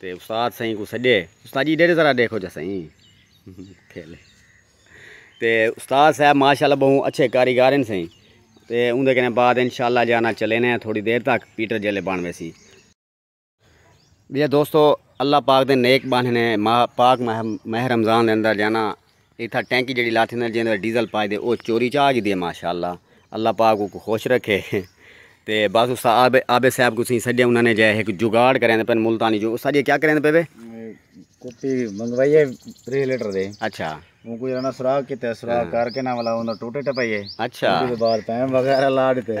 تے استاد سئیں کوں سڈے استاد جی ڈیرے ذرا دیکھو جا سئیں کھیلے تے استاد صاحب ماشاءاللہ بہوں اچھے کاریگر ہیں سئیں تے اون دے کنے بعد انشاءاللہ جانا چلے نے تھوڑی دیر تک پیٹر جیلے بن ویسی بیا دوستو اللہ پاک دے نیک باننے ماہ پاک ماہ رمضان دے اندر جانا اتھا ٹینکی جڑی لاٹھی نال جیندے ڈیزل پائے دے او چوری چا گی دے ماشاءاللہ اللہ پاک کو خوش رکھے تے بس اس آب آب صاحب کو سی سڈے انہاں نے جے ایک جگاڑ کریں دے پن ملتانی جو اس اجے کیا کریں دے پے وے کپی منگوائی ہے 3 لیٹر دے اچھا وہ کوئی رنا سراغ کیتے سراغ کر کے نہ والا اون ٹوٹے ٹپائیے اچھا بعد پین وغیرہ لا دیتے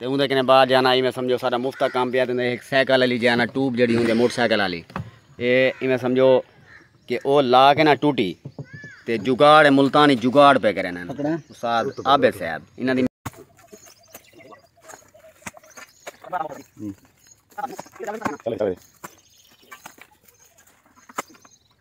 تے اوندے کنے باہر جانا ایویں سمجھو سارا مفت کام پیا تے ایک سائیکل علی جانا ٹوب جڑی ہوندی موٹر سائیکل علی اے ایویں سمجھو کہ او لا کے نہ ٹوٹی تے جگاڑ ملتانی جگاڑ پہ کرے نا استاد عابد صاحب انہاں دی چلے چلے